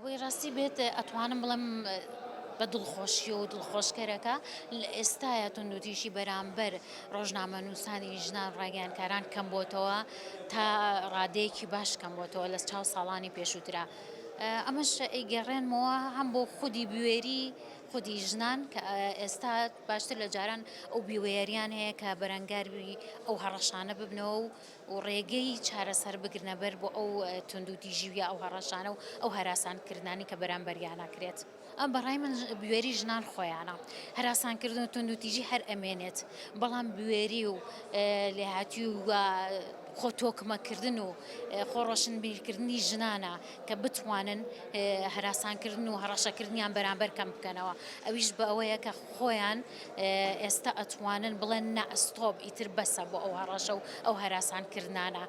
ئەوەی ڕاستی بێت ئەتوانم بڵێم بە دڵخۆشی و دڵخۆشکەرەکە لە ئێستاە توندوتیژی بەرامبەر ڕۆژنامە نووسانی ژنان ڕاگەیانکاران کەم بۆتەوە تا ڕادەیەکی باش کەم بۆتەوە لە چاو ساڵانی پێشووترا. ئەمەش ئەیگەڕێنمەوە هەم بۆ خودی بوێری خودی ژنان کە ئێستا باشتر لە جاران ئەو بیوێریان هەیە کە بەرەنگاری ئەو هەڕەشانە ببنەوە و و ڕێگەی چارەسەر بگرنە بەر بۆ ئەو توندوتیژی و یا ئەو هەڕەشانە و ئەو هەراسانکردنانەی کە بەرامبەریان ئەکرێت. ئەمە بە ڕای من بوێری ژنان خۆیانە. هەراسانکردن و توندوتیژی هەر ئەمێنێت، بەڵام بوێری و لێهاتوویی و خۆ تۆکمەکردن و خۆ ڕۆشنبیرکردنی ژنانە کە بتوانن هەراسانکردن و هەڕەشەکردنیان بەرامبەر کەم بکەنەوە ئەویش بە ئەوەیە کە خۆیان ئێستا ئەتوانن بڵێن نەئەستۆب ئیتر بەسە بۆ ئەو هەڕەشە و ئەو هەراسانکردانە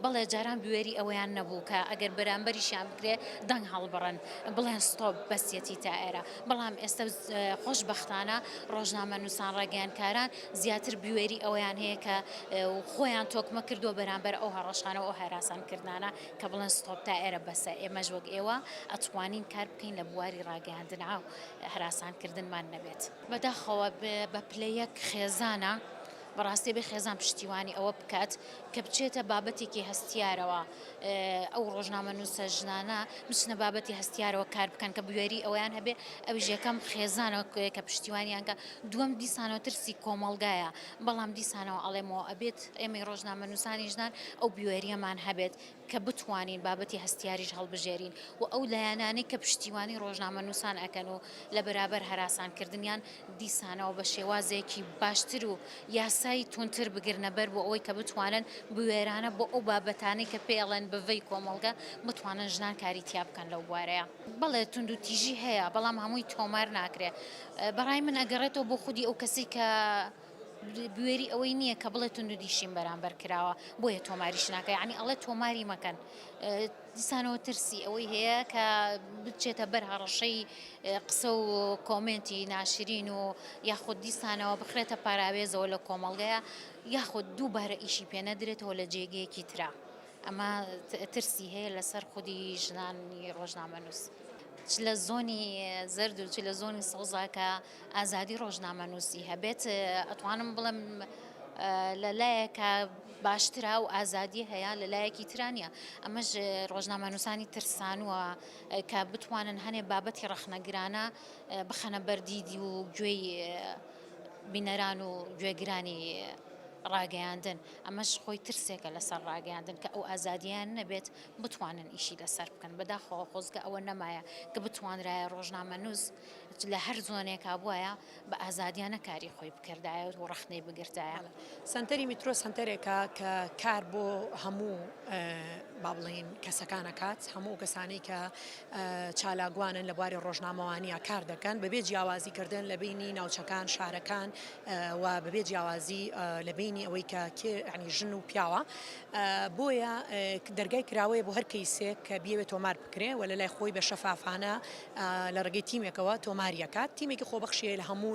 بەڵێ جاران بوێری ئەوەیان نەبوو کە ئەگەر بەرامبەریشیان بکرێ دەنگ هەڵبڕن بڵێن ستۆب بەسیەتی تا ئێرە بەڵام ئێستا خۆشببختانە ڕۆژنامە نووسان ڕاگەیانکاران زیاتر بوێری ئەوەیان هەیە کە خۆیان تۆکمە کردووە بەرامبەر ئەو هەڕەشانەوە ئەو هەراسانکردانە کە بڵێن ستۆپ تا ئێرە بەسە، ئێمەش وەک ئێوە ئەتوانین کار بکەین لە بواری ڕاگەیاندن ئاو هەراسان کردنمان نەبێت. بەداخەوە بە پلە یەک خێزانە، بەڕاستی ئەبێ خێزان پشتیوانی ئەوە بکات کە بچێتە بابەتێکی هەستیارەوە، ئەو ڕۆژنامەنووسە ژنانە بچنە بابەتی هەستیارەوە کار بکەن کە بوێری ئەوەیان هەبێ، ئەویش یەکەم خێزانە کە پشتیوانیان کا، دووەم دیسانەوە ترسی کۆمەڵگایە، بەڵام دیسانەوە ئەڵێمەوە ئەبێت ئێمەی ڕۆژنامەنووسانی ژنان ئەو بوێریەمان هەبێت کە بتوانین بابەتی هەستیاریش هەڵبژێرین و ئەو لایەنانەی کە پشتیوانی ڕۆژنامەنووسان ئەکەن و لە بەرابەر هەراسانکردنیان دیسانەوە بە شێوازێکی باشتر و یاسای توندتر بگرنە بەر بۆ ئەوەی کە بتوانن بوێرانە بۆ ئەو بابەتانەی کە پێڵێن بڤەی کۆمەڵگە بتوانن ژنان کاری تیا بکەن لەو بوارەیە. بەڵێ توندوتیژی هەیە بەڵام هەمووی تۆمار ناکرێت بەڕای من ئەگەڕێتەوە بۆ خودی ئەو کەسی کە بوێری ئەوەی نییە کە بڵێ تونند و دیشیم بەرامبەر کراوە بۆیە تۆماریش ناکە ینی ئەڵێ تۆماری مەکەن دیسانەوە ترسی ئەوەی هەیە کە بچێتە بەر هەڕەشەی قسە و کۆمنتی ناشرین و یاخود دیسانەوە بخرێتە پاراوێزەوە لە کۆمەڵگەیە یاخود دووبارە ئیشی پێنەدرێتەوە لە جێگەیەکی تررا. ئەمە ترسی هەیە لەسەر خودی ژنانی ڕۆژنامەنووس. چ لە زۆنی زرد و چ لە زۆنی سەوزا کە ئازادی ڕۆژنامەنووسی هەبێت ئەتوانم بڵم لە لایەکە باشترا و ئازادی هەیە لە لایەکی ترانە ئەمەش ڕۆژنامەنووسانی ترسانوە کە بتوانن هەنێ بابەتی ڕەخنەگرانە بخەنە بەردیدی و گوێی بینەران و گوێگرانی ڕاگەیاندن ئەمەش خۆی ترسێکە لەسەر ڕاگەیاندن کە ئەو ئازادییەیان نەبێت بتوانن ئیشی لەسەر بکەن، بەداخەوە خۆزگە ئەوە نەمایە کە بتوانرایە ڕۆژنامەنووس لە هەر زۆنێکا بوایە بە ئازادییانە کاری خۆی بکردایە و ڕەخنەی بگرتایە. سەنتەری میترۆ سەنتەرێکە کە کار بۆ هەموو با بڵێین کەسەکان ئەکات، هەموو ئەو کەسانەی کە چالاکوانن لە بواری ڕۆژنامەوانییە کار دەکەن بەبێ جیاوازیکردن لە بینی ناوچەکان، شارەکان و بەبێ جیاوازی لە بەینی ئەوەی کە کێ یانی ژن و پیاوە بۆیە دەرگای کراوەیە بۆ هەر کەیسێک کە بیەوێت تۆمار بکرێ و لە لای خۆی بە شەفافانە لە ڕگەی تیمێکەوە تۆماریەکات تیمێکی خۆبەخشیە لە هەموو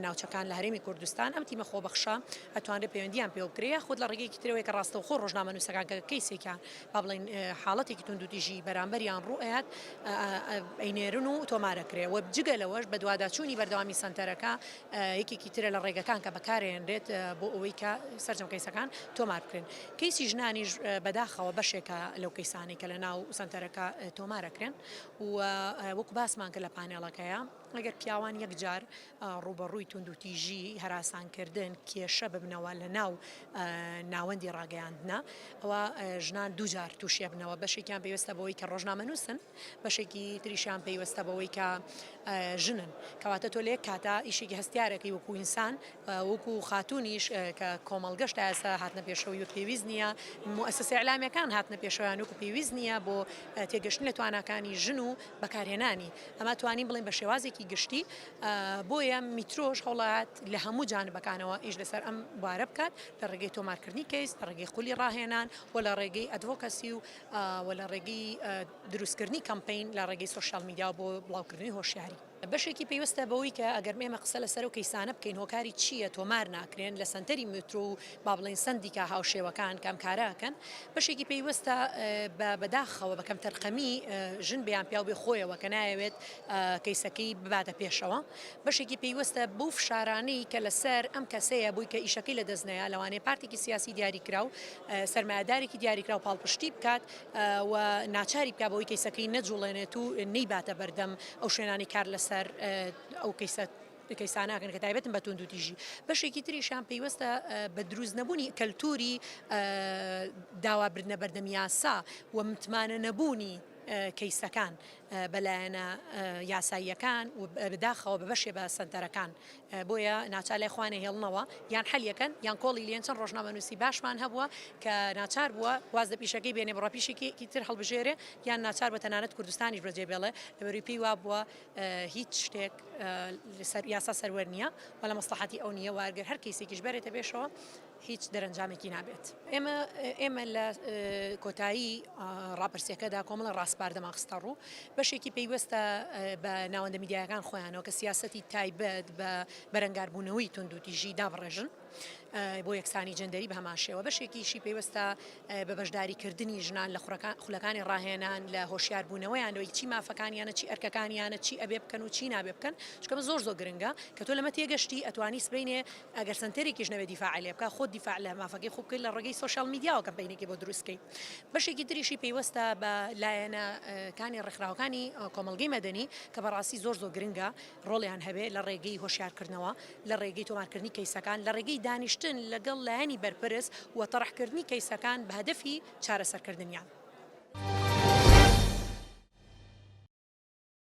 ناوچەکان لە هەرێمی کوردستان ئەم تیمە خۆبەخشە ئەتوانرێت پەیوەندیان پێ بکرێ خود لە ڕگەیەکی ترەوەی کە ڕاستەوخۆ ڕۆژنامە نووسەکان کە کەیسێکیان با بڵین حاڵەتێکی توندوتیژی بەرامبەریان ڕوئات ئەینێرن و تۆمارەکرێ و جگە لەوەش بەدواداچوونی بەردەوامی سنتەرەکە یەکێکی ترە لە ڕێگەکان کە بەکارێنرێت بۆ ئەوەی کە سەرجەم کەیسەکان تۆمار بکرێن کەیسی ژنانیش بەداخەوە بەشێکە لەو کەیسانی کە لە ناو سنتەرەکە تۆمارەکرێن و وەکو باسمان کە لە پانێڵەکەیە ئەگەر پیاوان یەکجار ڕوبەڕووی توندوتیژی هەراسانکردن کێشە ببنەوە لە ناو ناوەندی ڕاگەیاندنا ئەوە ژنان دوجار تووشێبنەوە بەشێکیان پێویستە بۆی کە ڕۆژنامە نووسن بەشێکی تریشیان پەیوەستە بەوەی کە ژنن کەواتە تۆ لە یەک کاتا ئیشێکی هەستیارەکەی وەکو ئینسان وەکو خاتونیش کە کۆمەڵگەش تا ئێستا هاتنە پێشەوەی و پێویست نییە موسسە ئەلامیەکان هاتنە پێشەوەیان وەکو پێویست نییە بۆ تێگەشتن لە تواناکانی ژن و بەکارهێنانی ئەمە توانین بڵین بە شێوازێکی گشتی بۆیە میترۆش هەوڵات لە هەموو جانبەکانەوە ئیش لەسەر ئەم بارە بکات لە ڕێگەی تۆمارکردنی کەیس لە ڕێگەی خولی ڕاهێنان و لە ڕێگەی ئەدڤۆکەسی و و لە ڕێگەی دروستکردنی کەمپەین لە ڕێگەی سۆشیال میدیا بۆ بڵاوکردنی هۆشیاری بەشێکی پەیوەستە بەوەی کە ئەگەر ئێمە قسە لەسەر و کەیسانە بکەین هۆکاری چییە تۆمار ناکرێن لە سەنتەری مترو و با بڵین سندیکا هاوشێوەکان کەم کارەکەن بەشێکی پەیوەستە بە بەداخەوە بەکەم تەرخەمی ژن بیان پیاو بێ خۆیەوە کە نایەوێت کەیسەکەی بباتە پێشەوە بەشێکی پەیوەستە بەو فشارانەی کە لەسەر ئەم کەسەیە بووی کە ئیشەکەی لە دەستنەیە لەوانەیە پارتێکی سیاسی دیاری کراو سەرمایەدارێکی دیاریکراو پاڵپشتی بکات و ناچاری بکات بەوەی کەیسەکەی نەجوڵێنێت و نەیباتە بەردەم ئەو شوێنانی کار لەسەر ئەو کەیسە کەیساناکەن کە تایبەتن بە توند و تیژی بەشێکی تریشان پێیوەستە بە دروست نەبوونی کەلتوری داوابردنە بەردەم یاسا و متمانە نەبوونی کەیسەکان بەلایەنە یاساییەکان و بەداخەوە بە بەشێ بە سنتەرەکان بۆیە ناچار لای خۆیان ئەهێڵنەوە یان حەلی ئەکەن یان کۆڵی لێن، چەند ڕۆژنامەنووسی باشمان هەبووە کە ناچار بووە واز لە پیشەکەی بێنێ بڕە پیشێکی تر هەڵبژێرێ یان ناچار بووە تەنانەت کوردستانیش بەجێ بێڵێ لەبەروی پێی وابووە هیچ شتێک لەسەر یاسا سەروەر نییە و لە مەسڵەحەتی ئەو نییە و ئەگەر هەر کەیسێکیش بەرێتە پێشەوە هیچ دەرەنجامێکی نابێت. ئێمە ئێمە لە کۆتایی ڕاپرسیەکەدا کۆمەڵە ڕاسپاردەمان خستەڕوو بەشێکی پەیوەستە بە ناوەندە میدیایەکان خۆیانەوە کە سیاسەتی تایبەت بە بەرەنگاربوونەوەی توندوتیژی دابڕێژن بۆ یەکسانی جندەری بە هەمان شێوە بەشێکیشی پێوەستە بە بەشداریکردنی ژنان لە خورەکان خولەکانی ڕاهێنان لە هۆشیاربوونەوەیان لەوەی چی مافەکانیانە چی ئەرکەکانیانە چی ئەبێ بکەن و چی نابێ بکەن چکەمە زۆر زۆر گرنگە کە تۆ لەمە تێگەشتی ئەتوانی سبینێ ئەگەر سەنتەرێکیش نەبێت دیفاعی لێ بکە خۆت دیفاع لە مافەکەی خۆت بکەیت لە ڕێگەی سۆشیاڵ میدیاوە کەمپەینێکی بۆ دروست کەیت بەشێکی تریشی پەیوەستە بە لایەنە کانی ڕێکخراوەکانی کۆمەڵگەی مەدەنی کە بەڕاستی زۆر زۆر گرنگە ڕۆڵیان هەبێ لە ڕێگەی هۆشیارکردنەوە لە ڕێگەی تۆمارکردنی کەیسەکان لە ڕێگەی دانیشتن لەگەڵ لایەنی بەرپرس و تەڕحکردنی کەیسەکان بە هەدەفی چارەسەرکردنیان.